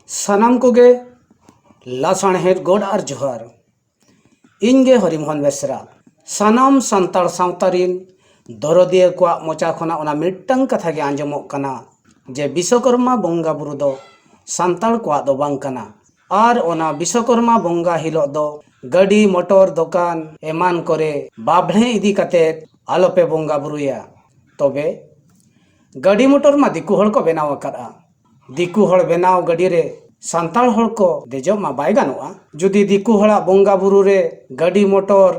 ᱥᱟᱱᱟᱢ ᱠᱚᱜᱮ ᱞᱟᱥᱟᱬᱦᱮᱫ ᱜᱚᱰ ᱟᱨ ᱡᱚᱦᱟᱨ ᱤᱧ ᱜᱮ ᱦᱚᱨᱤᱢᱳᱦᱚᱱ ᱵᱮᱥᱨᱟ ᱥᱟᱱᱟᱢ ᱥᱟᱱᱛᱟᱲ ᱥᱟᱶᱛᱟ ᱨᱤᱱ ᱫᱚᱨᱚᱫᱤᱭᱟᱹ ᱠᱚᱣᱟᱜ ᱢᱚᱪᱟ ᱠᱷᱚᱱᱟᱜ ᱚᱱᱟ ᱢᱤᱫᱴᱟᱝ ᱠᱟᱛᱷᱟ ᱜᱮ ᱟᱸᱡᱚᱢᱚᱜ ᱠᱟᱱᱟ ᱡᱮ ᱵᱤᱥᱚᱠᱚᱨᱢᱟ ᱵᱚᱸᱜᱟ ᱵᱩᱨᱩ ᱫᱚ ᱥᱟᱱᱛᱟᱲ ᱠᱚᱣᱟᱜ ᱫᱚ ᱵᱟᱝ ᱠᱟᱱᱟ ᱟᱨ ᱚᱱᱟ ᱵᱤᱥᱚᱠᱚᱨᱢᱟ ᱵᱚᱸᱜᱟ ᱦᱤᱞᱳᱜ ᱫᱚ ᱜᱟᱹᱰᱤ ᱢᱚᱴᱚᱨ ᱫᱚᱠᱟᱱ ᱮᱢᱟᱱ ᱠᱚᱨᱮ ᱵᱟᱵᱽᱬᱮ ᱤᱫᱤ ᱠᱟᱛᱮ ᱟᱞᱚᱯᱮ ᱵᱚᱸᱜᱟ ᱵᱩᱨᱩᱭᱟ ᱛᱚᱵᱮ ᱜᱟᱹᱰᱤ ᱢᱚᱴᱚᱨ ᱢᱟ ᱫᱤᱠᱩ ᱦᱚᱲ ᱠᱚ ᱵᱮᱱᱟᱣ ᱟᱠᱟᱫᱼᱟ ᱫᱤᱠᱩ ᱦᱚᱲ ᱵᱮᱱᱟᱣ ᱜᱟᱹᱰᱤ ᱨᱮ ᱥᱟᱱᱛᱟᱲ ᱦᱚᱲ ᱠᱚ ᱫᱮᱡᱚᱜ ᱢᱟ ᱵᱟᱭ ᱜᱟᱱᱚᱜᱼᱟ ᱡᱩᱫᱤ ᱫᱤᱠᱩ ᱦᱚᱲᱟᱜ ᱵᱚᱸᱜᱟ ᱵᱩᱨᱩ ᱨᱮ ᱜᱟᱹᱰᱤ ᱢᱚᱴᱚᱨ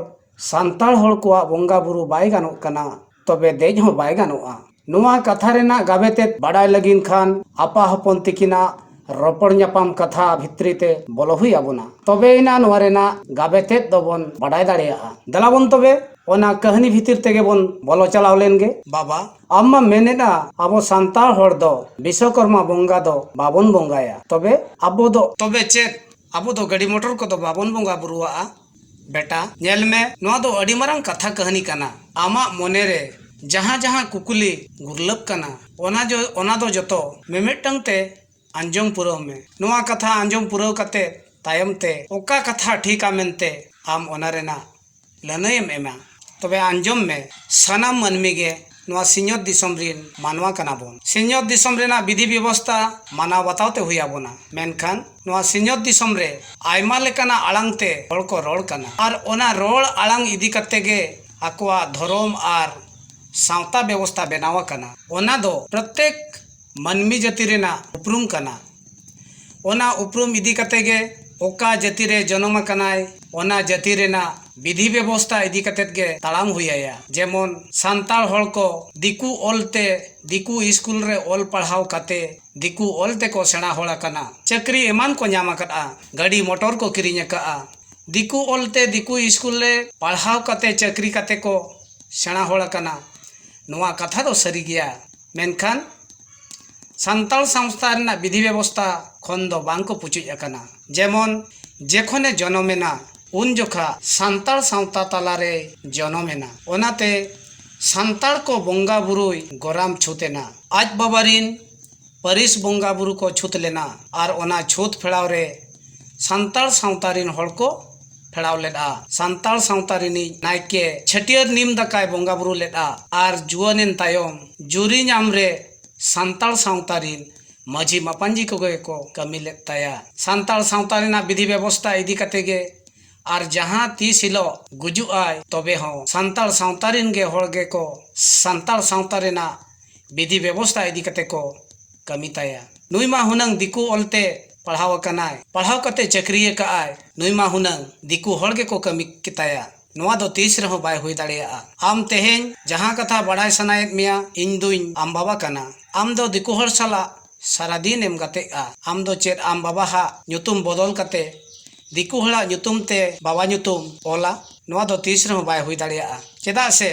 ᱥᱟᱱᱛᱟᱲ ᱦᱚᱲ ᱠᱚᱣᱟᱜ ᱵᱚᱸᱜᱟ ᱵᱩᱨᱩ ᱵᱟᱭ ᱜᱟᱱᱚᱜ ᱠᱟᱱᱟ ᱛᱚᱵᱮ ᱫᱮᱡ ᱦᱚᱸ ᱵᱟᱭ ᱜᱟᱱᱚᱜᱼᱟ ᱱᱚᱣᱟ ᱠᱟᱛᱷᱟ ᱨᱮᱱᱟᱜ ᱜᱟᱵᱮ ᱛᱮᱫ ᱵᱟᱰᱟᱭ ᱞᱟᱹᱜᱤᱫ ᱠᱷᱟᱱ ᱟᱯᱟ ᱦᱚᱯᱚᱱ ᱛᱤᱠᱤᱱᱟᱜ ᱨᱚᱯᱚᱲ ᱧᱟᱯᱟᱢ ᱠᱟᱛᱷᱟ ᱵᱷᱤᱛᱨᱤ ᱛᱮ ᱵᱚᱞᱚ ᱦᱩᱭ ᱟᱵᱚᱱᱟ ᱛᱚᱵᱮ ᱮᱱᱟ ᱱᱚᱣᱟ ᱨᱮᱱᱟᱜ ᱜᱟᱵᱮ ᱛᱮᱫ ᱫᱚᱵᱚᱱ ᱵᱟᱰᱟᱭ ᱫᱟᱲᱮᱭᱟᱜᱼᱟ ᱫᱮᱞᱟ ᱵᱚᱱ ᱛᱚᱵᱮ ᱚᱱᱟ ᱠᱟᱹᱦᱱᱤ ᱵᱷᱤᱛᱤᱨ ᱛᱮᱜᱮ ᱵᱚᱱ ᱵᱚᱞᱚ ᱪᱟᱞᱟᱣ ᱞᱮᱱ ᱜᱮ ᱵᱟᱵᱟ ᱟᱢ ᱢᱟ ᱢᱮᱱᱮᱫᱼᱟ ᱟᱵᱚ ᱥᱟᱱᱛᱟᱲ ᱦᱚᱲ ᱫᱚ ᱵᱤᱥᱥᱚᱠᱚᱨᱢᱟ ᱵᱚᱸᱜᱟ ᱫᱚ ᱵᱟᱵᱚᱱ ᱵᱚᱸᱜᱟᱭᱟ ᱛᱚᱵᱮ ᱟᱵᱚ ᱫᱚ ᱛᱚᱵᱮ ᱪᱮᱫ ᱟᱵᱚ ᱫᱚ ᱜᱟᱹᱰᱤ ᱢᱚᱴᱚᱨ ᱠᱚᱫᱚ ᱵᱟᱵᱚᱱ ᱵᱚᱸᱜᱟ ᱵᱩᱨᱩᱣᱟᱜᱼᱟ ᱵᱮᱴᱟ ᱧᱮᱞ ᱢᱮ ᱱᱚᱣᱟ ᱫᱚ ᱟᱹᱰᱤ ᱢᱟᱨᱟᱝ ᱠᱟᱛᱷᱟ ᱠᱟᱹᱦᱱᱤ ᱠᱟᱱᱟ ᱟᱢᱟᱜ ᱢᱚᱱᱮ ᱨᱮ ᱡᱟᱦᱟᱸ ᱡᱟᱦᱟᱸ ᱠᱩᱠᱞᱤ ᱜᱩᱨᱞᱟᱹᱜ ᱠᱟᱱᱟ ᱚᱱᱟ ᱡᱚ ᱚᱱᱟ ᱫᱚ ᱡᱚᱛᱚ ᱢᱤᱢᱤᱫᱴᱟᱝ ᱛᱮ ᱟᱸᱡᱚᱢ ᱯᱩᱨᱟᱹᱣ ᱢᱮ ᱱᱚᱣᱟ ᱠᱟᱛᱷᱟ ᱟᱸᱡᱚᱢ ᱯᱩᱨᱟᱹᱣ ᱠᱟᱛᱮ ᱛᱟᱭᱚᱢ ᱛᱮ ᱚᱠᱟ ᱠᱟᱛᱷᱟ ᱴᱷᱤᱠᱟ ᱢᱮᱱᱛᱮ ᱟᱢ ᱚᱱᱟ ᱨᱮᱱᱟᱜ ᱞᱟᱹᱱᱟᱹᱭ ᱮᱢ ᱮᱢᱟ ᱛᱚᱵᱮ ᱟᱸᱡᱚᱢ ᱢᱮ ᱥᱟᱱᱟᱢ ᱢᱟᱹᱱᱢᱤ ᱜᱮ ᱱᱚᱣᱟ ᱥᱤᱧᱚᱛ ᱫᱤᱥᱚᱢ ᱨᱤᱱ ᱢᱟᱱᱣᱟ ᱠᱟᱱᱟ ᱵᱚᱱ ᱥᱤᱧᱚᱛ ᱫᱤᱥᱚᱢ ᱨᱮᱱᱟᱜ ᱵᱤᱫᱷᱤ ᱵᱮᱵᱚᱥᱛᱟ ᱢᱟᱱᱟᱣ ᱵᱟᱛᱟᱣ ᱛᱮ ᱦᱩᱭ ᱟᱵᱚᱱᱟ ᱢᱮᱱᱠᱷᱟᱱ ᱱᱚᱣᱟ ᱥᱤᱧᱚᱛ ᱫᱤᱥᱚᱢ ᱨᱮ ᱟᱭᱢᱟ ᱞᱮᱠᱟᱱᱟᱜ ᱟᱲᱟᱝ ᱛᱮ ᱦᱚᱲ ᱠᱚ ᱨᱚᱲ ᱠᱟᱱᱟ ᱟᱨ ᱚᱱᱟ ᱨᱚᱲ ᱟᱲᱟᱝ ᱤᱫᱤ ᱠᱟᱛᱮ ᱜᱮ ᱟᱠᱚᱣᱟᱜ ᱫᱷᱚᱨᱚᱢ ᱟᱨ ᱥᱟᱶᱛᱟ ᱵᱮᱵᱚᱥᱛᱟ ᱵᱮᱱᱟᱣ ᱟᱠᱟᱱᱟ ᱚᱱᱟ ᱫᱚ ᱯᱨᱚᱛᱮᱠ ᱢᱟᱹᱱᱢᱤ ᱡᱟᱹᱛᱤ ᱨᱮᱱᱟᱜ ᱩᱯᱨᱩᱢ ᱠᱟᱱᱟ᱾ ᱚᱱᱟ ᱩᱯᱨᱩᱢ ᱤᱫᱤ ᱠᱟᱛᱮ ᱜᱮ ᱚᱠᱟ ᱡᱟᱹᱛᱤ ᱨᱮ ᱡᱚᱱᱚᱢ ᱟᱠᱟᱱᱟᱭ ᱚᱱᱟ ᱡᱟᱹᱛᱤ ᱨᱮᱱᱟᱜ ᱵᱤᱫᱷᱤ ᱵᱮᱵᱚᱥᱛᱟ ᱤᱫᱤ ᱠᱟᱛᱮ ᱜᱮ ᱛᱟᱲᱟᱢ ᱦᱩᱭ ᱟᱭᱟ᱾ ᱡᱮᱢᱚᱱ ᱥᱟᱱᱛᱟᱲ ᱦᱚᱲ ᱠᱚ ᱫᱤᱠᱩ ᱚᱞ ᱛᱮ ᱫᱤᱠᱩ ᱤᱥᱠᱩᱞ ᱨᱮ ᱚᱞ ᱯᱟᱲᱦᱟᱣ ᱠᱟᱛᱮ ᱫᱤᱠᱩ ᱚᱞ ᱛᱮ ᱠᱚ ᱥᱮᱬᱟ ᱦᱚᱲ ᱟᱠᱟᱱᱟ᱾ ᱪᱟᱹᱠᱨᱤ ᱮᱢᱟᱱ ᱠᱚ ᱧᱟᱢ ᱟᱠᱟᱫᱼᱟ᱾ ᱜᱟᱹᱰᱤ ᱢᱚᱴᱚᱨ ᱠᱚ ᱠᱤᱨᱤᱧ ᱟᱠᱟᱫᱼᱟ᱾ ᱫᱤᱠᱩ ᱚᱞ ᱛᱮ ᱫᱤᱠᱩ ᱤᱥᱠᱩᱞ ᱨᱮ ᱯᱟᱲᱦᱟᱣ ᱠᱟᱛᱮ ᱪᱟᱹᱠᱨᱤ ᱠᱟᱛᱮ ᱠᱚ ᱥᱮᱬᱟ ᱦᱚᱲ ᱟᱠᱟᱱᱟ᱾ ᱱᱚᱶᱟ ᱠᱟᱛᱷᱟ ᱫᱚ ᱥᱟᱹᱨᱤ ᱜᱮᱭᱟ᱾ ᱢᱮᱱᱠᱷᱟᱱ ᱥᱟᱱᱛᱟᱲ ᱥᱟᱶᱛᱟ ᱨᱮᱱᱟᱜ ᱵᱤᱫᱷᱤ ᱵᱮᱵᱚᱥᱛᱷᱟ ᱠᱷᱚᱱ ᱫᱚ ᱵᱟᱝ ᱠᱚ ᱯᱩᱪᱩᱡ ᱟᱠᱟᱱᱟ ᱡᱮᱢᱚᱱ ᱡᱚᱠᱷᱚᱱᱮ ᱡᱚᱱᱚᱢ ᱮᱱᱟ ᱩᱱ ᱡᱚᱠᱷᱟᱜ ᱥᱟᱱᱛᱟᱲ ᱥᱟᱶᱛᱟ ᱛᱟᱞᱟ ᱨᱮᱭ ᱡᱚᱱᱚᱢ ᱮᱱᱟ ᱚᱱᱟᱛᱮ ᱥᱟᱱᱛᱟᱲ ᱠᱚ ᱵᱚᱸᱜᱟ ᱵᱩᱨᱩᱭ ᱜᱚᱨᱟᱢ ᱪᱷᱩᱛ ᱮᱱᱟ ᱟᱡ ᱵᱟᱵᱟ ᱨᱤᱱ ᱯᱟᱹᱨᱤᱥ ᱵᱚᱸᱜᱟ ᱵᱩᱨᱩ ᱠᱚ ᱪᱷᱩᱛ ᱞᱮᱱᱟ ᱟᱨ ᱚᱱᱟ ᱪᱷᱩᱛ ᱯᱷᱮᱲᱟᱣ ᱨᱮ ᱥᱟᱱᱛᱟᱲ ᱥᱟᱶᱛᱟ ᱨᱤᱱ ᱦᱚᱲ ᱠᱚ ᱯᱷᱮᱲᱟᱣ ᱞᱮᱫᱼᱟ ᱥᱟᱱᱛᱟᱲ ᱥᱟᱶᱛᱟ ᱨᱤᱱᱤᱡ ᱱᱟᱭᱠᱮ ᱪᱷᱟᱹᱴᱭᱟᱹᱨ ᱱᱤᱢ ᱫᱟᱠᱟᱭ ᱵᱚᱸᱜᱟ ᱵᱩᱨᱩ ᱞᱮᱫᱼᱟ ᱟᱨ ᱡᱩᱣᱟᱹᱱ ᱮᱱ ᱛᱟᱭᱚᱢ ᱡᱩᱨᱤ ᱧᱟᱢ ᱨᱮ ᱥᱟᱱᱛᱟᱲ ᱥᱟᱶᱛᱟ ᱨᱤᱱ ᱢᱟᱹᱡᱷᱤ ᱢᱟᱯᱟᱧᱡᱤ ᱠᱚᱜᱮ ᱠᱚ ᱠᱟᱹᱢᱤ ᱞᱮᱫ ᱛᱟᱭᱟ ᱥᱟᱱᱛᱟᱲ ᱥᱟᱶᱛᱟ ᱨᱮᱱᱟᱜ ᱵᱤᱫᱷᱤ ᱵᱮᱵᱚᱥᱛᱟ ᱤᱫᱤ ᱠᱟᱛᱮ ᱜᱮ ᱟᱨ ᱡᱟᱦᱟᱸ ᱛᱤᱥ ᱦᱤᱞᱚᱜ ᱜᱩᱡᱩᱜ ᱟᱭ ᱛᱚᱵᱮ ᱦᱚᱸ ᱥᱟᱱᱛᱟᱲ ᱥᱟᱶᱛᱟ ᱨᱤᱱ ᱜᱮ ᱦᱚᱲ ᱜᱮᱠᱚ ᱥᱟᱱᱛᱟᱲ ᱥᱟᱶᱛᱟ ᱨᱮᱱᱟᱜ ᱵᱤᱫᱷᱤ ᱵᱮᱵᱚᱥᱛᱟ ᱤᱫᱤ ᱠᱟᱛᱮ ᱠᱚ ᱠᱟᱹᱢᱤ ᱛᱟᱭᱟ᱾ ᱱᱩᱭ ᱢᱟ ᱦᱩᱱᱟᱹᱝ ᱫᱤᱠᱩ ᱚᱞ ᱛᱮ ᱯᱟᱲᱦᱟᱣ ᱟᱠᱟᱱᱟᱭ, ᱯᱟᱲᱦᱟᱣ ᱠᱟᱛᱮ ᱪᱟᱹᱠᱨᱤ ᱟᱠᱟᱫ ᱟᱭ, ᱱᱩᱭ ᱢᱟ ᱦᱩᱱᱟᱹᱝ ᱫᱤᱠᱩ ᱦᱚᱲ ᱜᱮᱠᱚ ᱠᱟᱹᱢᱤ ᱠᱮᱛᱟᱭᱟ᱾ ᱱᱚᱣᱟ ᱫᱚ ᱛᱤᱥ ᱨᱮᱦᱚᱸ ᱵᱟᱭ ᱦᱩᱭ ᱫᱟᱲᱮᱭᱟᱜᱼᱟ᱾ ᱟᱢ ᱛᱮᱦᱮᱧ ᱡᱟᱦᱟᱸ ᱠᱟᱛᱷᱟ ᱵᱟᱰᱟᱭ ᱥᱟᱱᱟᱭᱮᱫ ᱢᱮᱭᱟ, ᱤᱧ ᱫᱩᱧ ᱟᱢ ᱵᱟᱵᱟ ᱠᱟᱱᱟ᱾ ᱟᱢ ᱫᱚ ᱫᱤᱠᱩ ᱦᱚᱲ ᱥᱟᱞᱟᱜ ᱥᱟᱨᱟ ᱫᱤᱱ ᱮᱢ ᱜᱟᱛᱮᱜᱼᱟ᱾ ᱟᱢ ᱫᱚ ᱪᱮᱫ ᱟᱢ ᱵᱟᱵᱟ ᱦᱟᱜ ᱧᱩᱛᱩᱢ ᱵᱚᱫᱚᱞ ᱠᱟᱛᱮ ᱫᱤᱠᱩ ᱦᱚᱲᱟᱜ ᱧᱩᱛᱩᱢ ᱛᱮ ᱵᱟᱵᱟ ᱧᱩᱛᱩᱢ ᱚᱞᱟ? ᱱᱚᱣᱟ ᱫᱚ ᱛᱤᱥ ᱨᱮᱦᱚᱸ ᱵᱟᱭ ᱦᱩᱭ ᱫᱟᱲᱮᱭᱟᱜᱼᱟ᱾ ᱪᱮᱫᱟᱜ ᱥᱮ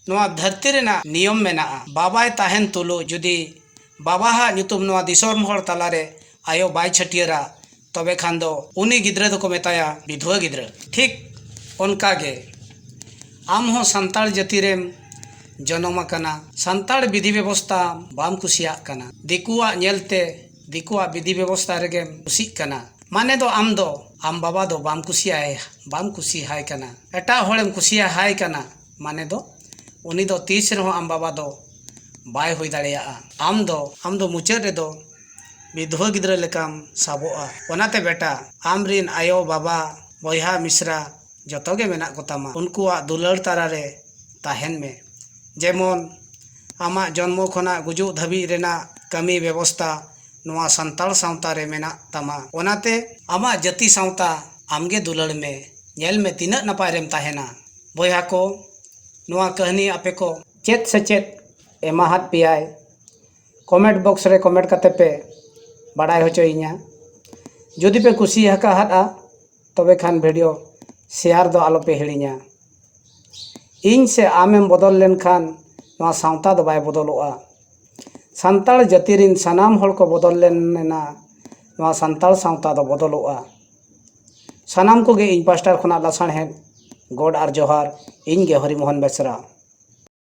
ᱱᱚᱣᱟ ᱫᱷᱟᱹᱨᱛᱤ ᱨᱮᱱᱟᱜ ᱱᱤᱭᱚᱢ ᱢᱮᱱᱟᱜᱼᱟ ᱵᱟᱵᱟᱭ ᱛᱟᱦᱮᱱ ᱛᱩᱞᱩᱡ ᱡᱩᱫᱤ ᱵᱟᱵᱟ ᱦᱟᱜ ᱧᱩᱛᱩᱢ ᱱᱚᱣᱟ ᱫᱤᱥᱚᱢ ᱦᱚᱲ ᱛᱟᱞᱟ ᱨᱮ ᱟᱭᱳ ᱵᱟᱭ ᱪᱷᱟᱹᱴᱭᱟᱹᱨᱟ ᱛᱚᱵᱮ ᱠᱷᱟᱱ ᱫᱚ ᱩᱱᱤ ᱜᱤᱫᱽᱨᱟᱹ ᱫᱚᱠᱚ ᱢᱮᱛᱟᱭᱟ ᱵᱤᱫᱷᱣᱟᱹ ᱜᱤᱫᱽᱨᱟᱹ ᱴᱷᱤᱠ ᱚᱱᱠᱟ ᱜᱮ ᱟᱢ ᱦᱚᱸ ᱥᱟᱱᱛᱟᱲ ᱡᱟᱹᱛᱤ ᱨᱮᱢ ᱡᱚᱱᱚᱢ ᱟᱠᱟᱱᱟ ᱥᱟᱱᱛᱟᱲ ᱵᱤᱫᱷᱤ ᱵᱮᱵᱚᱥᱛᱟ ᱵᱟᱢ ᱠᱩᱥᱤᱭᱟᱜ ᱠᱟᱱᱟ ᱫᱤᱠᱩᱣᱟᱜ ᱧᱮᱞ ᱛᱮ ᱫᱤᱠᱩᱣᱟᱜ ᱵᱤᱫᱷᱤ ᱵᱮᱵᱚᱥᱛᱟ ᱨᱮᱜᱮᱢ ᱠᱩᱥᱤᱜ ᱠᱟᱱᱟ ᱢᱟᱱᱮ ᱫᱚ ᱟᱢ ᱫᱚ ᱟᱢ ᱵᱟᱵᱟ ᱫᱚ ᱵᱟᱢ ᱠᱩᱥᱤᱭᱟᱭ ᱵᱟᱢ ᱠᱩᱥᱤ ᱦᱟᱭ ᱠᱟᱱᱟ ᱮᱴᱟᱜ ᱦᱚᱲᱮᱢ ᱠᱩᱥᱤᱭᱟᱭ ᱠᱟᱱᱟ ᱢᱟᱱᱮ ᱫᱚ ᱩᱱᱤ ᱫᱚ ᱛᱤᱥ ᱨᱮᱦᱚᱸ ᱟᱢ ᱵᱟᱵᱟ ᱫᱚ ᱵᱟᱭ ᱦᱩᱭ ᱫᱟᱲᱮᱭᱟᱜᱼᱟ ᱟᱢ ᱫᱚ ᱟᱢ ᱫᱚ ᱢᱩᱪᱟᱹᱫ ᱨᱮᱫᱚ ᱵᱤᱫᱷᱣᱟᱹ ᱜᱤᱫᱽᱨᱟᱹ ᱞᱮᱠᱟᱢ ᱥᱟᱵᱚᱜᱼᱟ ᱚᱱᱟᱛᱮ ᱵᱮᱴᱟ ᱟᱢ ᱨᱮᱱ ᱟᱭᱳ ᱵᱟᱵᱟ ᱵᱚᱭᱦᱟ ᱢᱤᱥᱨᱟ ᱡᱚᱛᱚ ᱜᱮ ᱢᱮᱱᱟᱜ ᱠᱚᱛᱟᱢᱟ ᱩᱱᱠᱩᱣᱟᱜ ᱫᱩᱞᱟᱹᱲ ᱛᱟᱞᱟ ᱨᱮ ᱛᱟᱦᱮᱱ ᱢᱮ ᱡᱮᱢᱚᱱ ᱟᱢᱟᱜ ᱡᱚᱱᱢᱚ ᱠᱷᱚᱱᱟᱜ ᱜᱩᱡᱩᱜ ᱫᱷᱟᱹᱵᱤᱡ ᱨᱮᱱᱟᱜ ᱠᱟᱹᱢᱤ ᱵᱮᱵᱚᱥᱛᱟ ᱱᱚᱣᱟ ᱥᱟᱱᱛᱟᱲ ᱥᱟᱶᱛᱟ ᱨᱮ ᱢᱮᱱᱟᱜ ᱛᱟᱢᱟ ᱚᱱᱟᱛᱮ ᱟᱢᱟᱜ ᱡᱟᱹᱛᱤ ᱥᱟᱶᱛᱟ ᱟᱢ ᱜᱮ ᱫᱩᱞᱟᱹᱲ ᱢᱮ ᱧᱮᱞ ᱢᱮ ᱛᱤᱱᱟᱹᱜ ᱱᱟᱯᱟᱭ ᱨᱮᱢ ᱛᱟᱦᱮᱱᱟ ᱵᱚᱭᱦᱟ ᱠᱚ ᱱᱚᱣᱟ ᱠᱟᱹᱦᱱᱤ ᱟᱯᱮ ᱠᱚ ᱪᱮᱫ ᱥᱮ ᱪᱮᱫ ᱮᱢᱟᱦᱟᱫ ᱯᱮᱭᱟᱭ ᱠᱚᱢᱮᱱᱴ ᱵᱚᱠᱥ ᱨᱮ ᱠᱚᱢᱮᱱᱴ ᱠᱟᱛᱮ ᱯᱮ ᱵᱟᱰᱟᱭ ᱦᱚᱪᱚᱭᱤᱧᱟ ᱡᱩᱫᱤ ᱯᱮ ᱠᱩᱥᱤ ᱟᱠᱟᱫᱼᱟ ᱛᱚᱵᱮ ᱠᱷᱟᱱ ᱵᱷᱤᱰᱤᱭᱳ ᱥᱮᱭᱟᱨ ᱫᱚ ᱟᱞᱚ ᱯᱮ ᱦᱤᱲᱤᱧᱟ ᱤᱧ ᱥᱮ ᱟᱢᱮᱢ ᱵᱚᱫᱚᱞ ᱞᱮᱱᱠᱷᱟᱱ ᱱᱚᱣᱟ ᱥᱟᱶᱛᱟ ᱫᱚ ᱵᱟᱭ ᱵᱚᱫᱚᱞᱚᱜᱼᱟ ᱥᱟᱱᱛᱟᱲ ᱡᱟᱹᱛᱤ ᱨᱤᱱ ᱥᱟᱱᱟᱢ ᱦᱚᱲ ᱠᱚ ᱵᱚᱫᱚᱞ ᱞᱮᱱᱟ ᱱᱚᱣᱟ ᱥᱟᱱᱛᱟᱲ ᱥᱟᱶᱛᱟ ᱫᱚ ᱵᱚᱫᱚᱞᱚᱜᱼᱟ ᱥᱟᱱᱟᱢ ᱠᱚᱜᱮ ᱤᱧ ᱯᱟᱥᱴᱟ ᱠᱷᱚᱱᱟᱜ ᱞᱟᱥᱟᱬᱦᱮᱫ ᱜᱚᱰ ᱟᱨ ᱡᱚᱦᱟᱨ ᱤᱧ ᱜᱮ ᱦᱚᱨᱤ ᱢᱳᱦᱚᱱ ᱵᱮᱥᱨᱟ